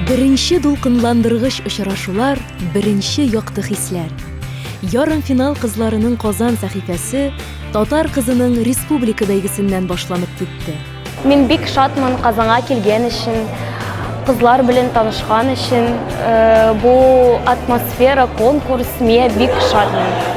Беренче дулкынландыргыч очрашулар, беренче якты хисләр. Ярымфинал кызларының Казан сәхифәсе татар кызының республика бәйгесеннән башланып китте. Мин бик шатмын Казанга килгән өчен, кызлар белән танышкан өчен. Э, бу атмосфера, конкурс, мия бик шатмын.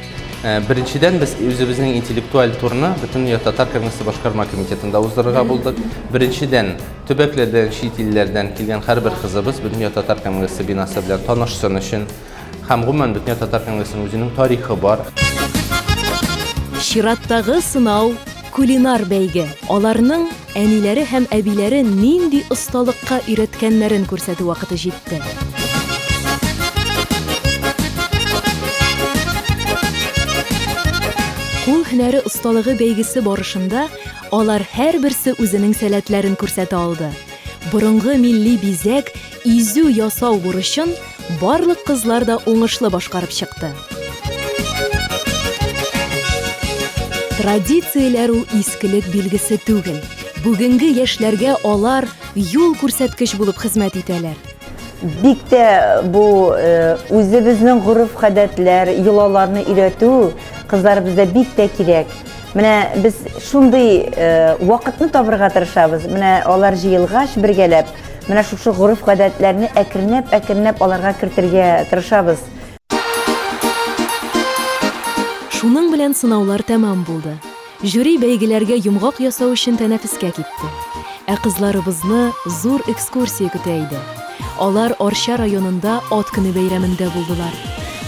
Э, беренчедән без үзебезнең интеллектуаль турны бөтенләй татар конгрессы башкарма комитетында уздырырга булдык беренчедән төбәкләрдән чит илләрдән килгән һәрбер кызыбыз бөтенләй татар конгрессы бинасы белән танышсын өчен һәм гомумән бөтенләй татар конгрессының үзенең тарихы бар чираттагы сынау кулинар бәйге аларның әниләре һәм әбиләре нинди осталыкка өйрәткәннәрен күрсәтү вакыты җитте. Кул һөнәре осталыгы бәйгесе барышында алар һәрберсе үзенең сәләтләрен күрсәтә алды. Борынгы милли бизәк, Изү ясау бурычын барлык кызлар да уңышлы башкарып чыкты. Традицияләр ул искелек билгесе түгел. Бүгенге яшьләргә алар юл күрсәткеч булып хезмәт итәләр. Бик тә бу э, үзебезнең гореф-гадәтләр, йолаларны өйрәтү кызларыбызда бик тә кирәк. Менә без шундый э, вакытны табырга тырышабыз. Менә алар җыелгач бергәләп Менә шушы гореф-гадәтләрне әкренләп-әкренләп аларга кертергә тырышабыз. Шуның белән сынаулар тәмам булды. Жюри бәйгеләргә йомгак ясау өчен тәнәфескә китте. Ә кызларыбызны зур экскурсия көтә иде. Алар Арча районында Ат көне бәйрәмендә булдылар.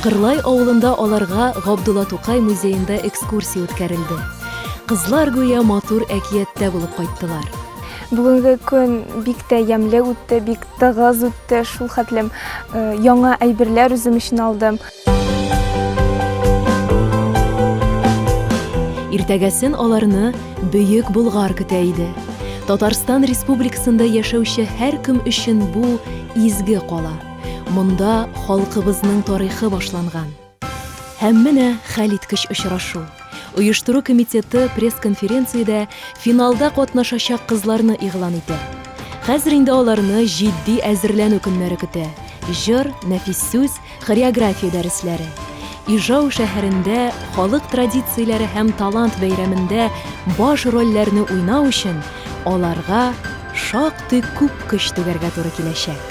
Кырлай авылында аларга Габдулла Тукай музеенда экскурсия үткәрелде. Кызлар гүя матур әкияттә булып кайттылар. Бүгенге көн бик тә ямьле үтте, бик тыгыз үтте, шул хәтлем э, яңа әйберләр үзем өчен алдым. Иртәгәсен аларны Бөек Болгар көтә иде. Татарстан Республикасында яшәүче һәркем өчен бу изге кала. Монда халкыбызның тарихы башланган. Һәм менә хәлиткеч очрашу. Оештыру комитеты пресс-конференциядә финалда катнашачак кызларны игълан итә. Хәзер инде аларны җитди әзерләнү көннәре көтә. Җыр, нәфис сүз, хореография дәресләре. Ижау шәһәрендә халык традицияләре һәм талант бәйрәмендә баш рольләрне уйнау өчен аларга шактый күп көч түгәргә туры киләчәк.